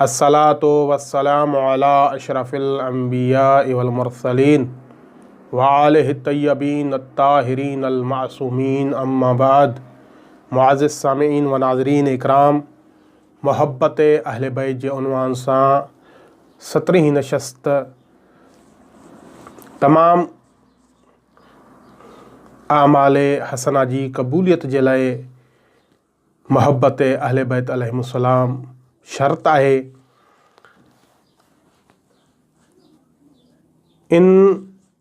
الصلوة والسلام علي اشرف الانبياء والمرسلين وآله الطيبين الطاهرين المعصومين اما بعد معزز سامعين و ناظرين اڪرام محبت اهل بيت جي عنوان سان سترهين نشست تمام اعمال حسنه جي قبوليت جي لاء محبت اهل بيت عليهم السلام شرط آهي. ان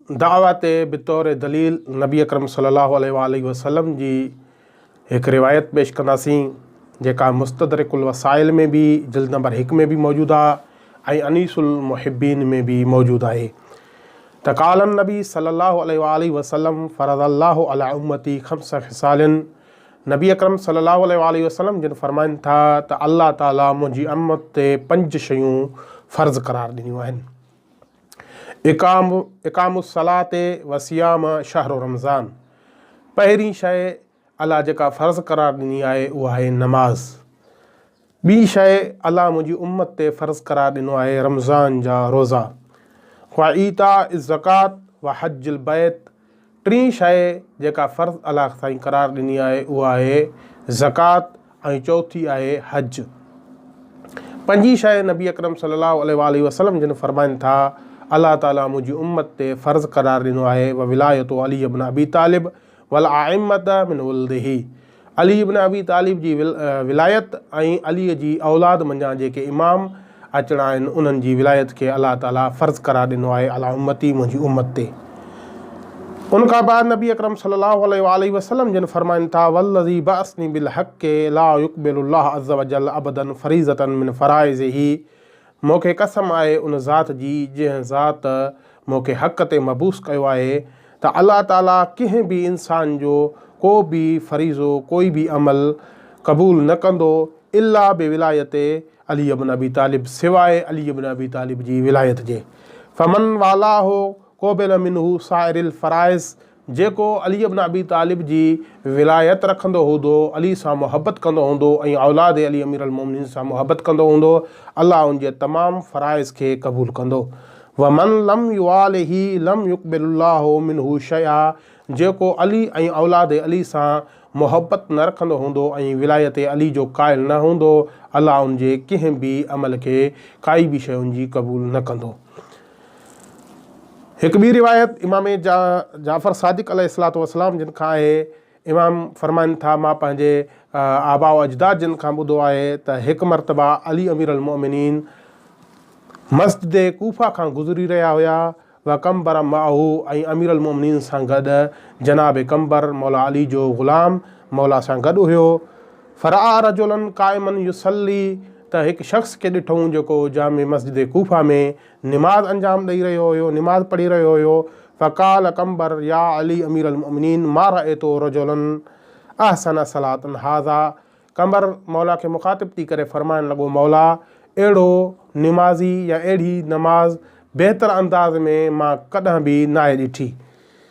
دعويٰ تي بطور دليل نبي اڪرم صلي الله عليه وآله وسلم جي هڪ روايت پيش ڪنداسين جيڪا مستدرڪ الوسائل ۾ به جلد نمبر هڪ ۾ به موجود آهي ۽ انيس المحبين ۾ به موجود آهي ته قال النبي صلي الله عليه وآله وسلم فرض الله على امتي خمس خصال نبي اڪرم صلي الله عليه واٰله وسلم جن فرمائن ٿا ته الله تعالي منهنجي امت تي پنج شيون فرض قرار ڏنيون آهن اقام اقام الصلات وصيام شهر رمضان پهرين شيء الله جيڪا فرض قرار ڏني آهي اها آهي نماز ٻي شيء الله منهنجي امت تي فرض قرار ڏنو آهي رمضان جا روزا و ايتاء الزڪات و حج البيت ٽين شيء جيڪا فرض الله سائين قرار ڏني آهي اها آهي زڪات ۽ چوٿي آهي حج پنجي شيء نبي اڪرم صلي الله عليه واله وسلم جن فرمائن ٿا الله تعالي منهنجي امت تي فرض قرار ڏنو آهي و ولايت علي ابن ابي طالب والائمه من ولده علي ابن ابي طالب جي ولايت ۽ علي جي اولاد منجهان جيڪي امام اچڻا آهن انهن جي ولايت کي الله تعالي فرض قرار ڏنو آهي علي امتي منهنجي امت تي ان کان بعد نبي اڪرم صلي الله عليه واله وسلم جن فرمائن ٿا والذي بعثني بالحق لا يقبل الله عز وجل ابدا فريضه من فرائضه مون کي قسم آهي ان ذات جي جنهن ذات مون کي حق تي مبعوث ڪيو آهي ته الله تعاليٰ ڪنهن به انسان جو ڪو به فريضو ڪوئي به عمل قبول نه ڪندو الا بولايت علي بن ابي طالب سواء علي بن ابي طالب جي ولايت جي فمن والاه قبل منه سائر الفرائض جيڪو علي بن ابي طالب جي ولايت رکندو هودو، علي سان محبت ڪندو هوندو ۽ اولاد علي امير المومنين سان محبت ڪندو هوندو، الله ان جي تمام فرائض کي قبول ڪندو. ومن لم يواله لم يقبل الله منه شيئا جيڪو علي ۽ اولاد علي سان محبت نه رکندو هوندو ۽ ولايت علي جو قائل نه هوندو، الله ان جي ڪنهن به عمل کي ڪائي به شيء ان جي قبول نه ڪندو. هڪ ٻي روايت امام جعفر صادق عليه الصلاة والسلام جن کان آهي امام فرمائن ٿا مان پنهنجي آباء و اجداد جن کان ٻڌو آهي ته هڪ مرتبه علي امير المؤمنين مسجد ڪوفه کان گذري رهيا هيا و قمبر معه ۽ امير المؤمنين سان گڏ جناب قمبر مولا علي جو غلام مولا سان گڏ هيو فرآ رجلا قائما يصلي ته هڪ شخص کي ڏٺئون جيڪو جامع مسجد ڪوفه ۾ نماز انجام ڏئي رهيو هيو، نماز پڙهي رهيو هيو، فقال قنبر يا علي امير المؤمنين ما رأيت رجلا احسن صلاة هذا قنبر مولا کي مخاطب ٿي ڪري فرمائڻ لڳو مولا اهڙو نمازي يا اهڙي نماز بهتر انداز ۾ مان ڪڏهن به ناهي ڏٺي.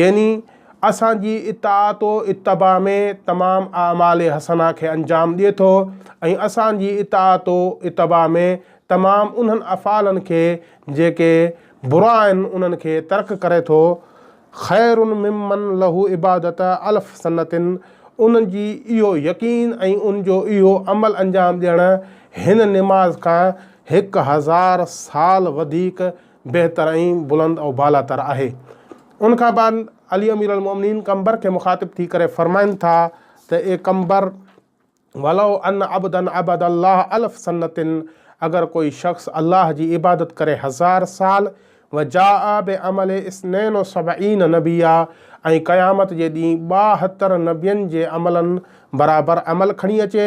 يعني اسان جي اطاعت و اتباع ۾ تمام اعمال حسنه کي انجام ڏئي ٿو ۽ اسان جي اطاعت و اتباع ۾ تمام انهن افعالن کي جيڪي برا آهن انهن کي ترڪ ڪري ٿو خير ممن له عبادت الف سنة ان جي اهو يقين ۽ ان جو اهو عمل انجام ڏيڻ هن نماز کان هڪ هزار سال وڌيڪ بهتر ۽ بلند ۽ بالا تر آهي. ان کان بعد علي امير المومنين قمبر کي مخاطب ٿي ڪري فرمائن ٿا ته اي قمبر! ولو ان عبدا عبد الله الف سنة اگر ڪوئي شخص الله جي عبادت ڪري هزار سال وجاء بعمل اثنين و سبعين نبيا ۽ قيامت جي ڏينهن ٻاهتر نبين جي عملن برابر عمل کڻي اچي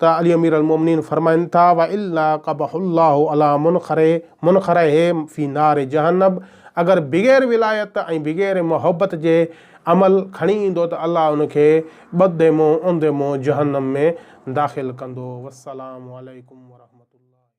ته علي امير المومنين فرمائن ٿا، والا قبح الله علي منخره منخره في نار جهنب اگر بغير ولايت ۽ بغير محبت جي عمل کڻي ايندو ته الله ان کي ٻڌي منهن اوندي منهن جهنم ۾ داخل ڪندو. والسلام عليڪم ورحمة الله.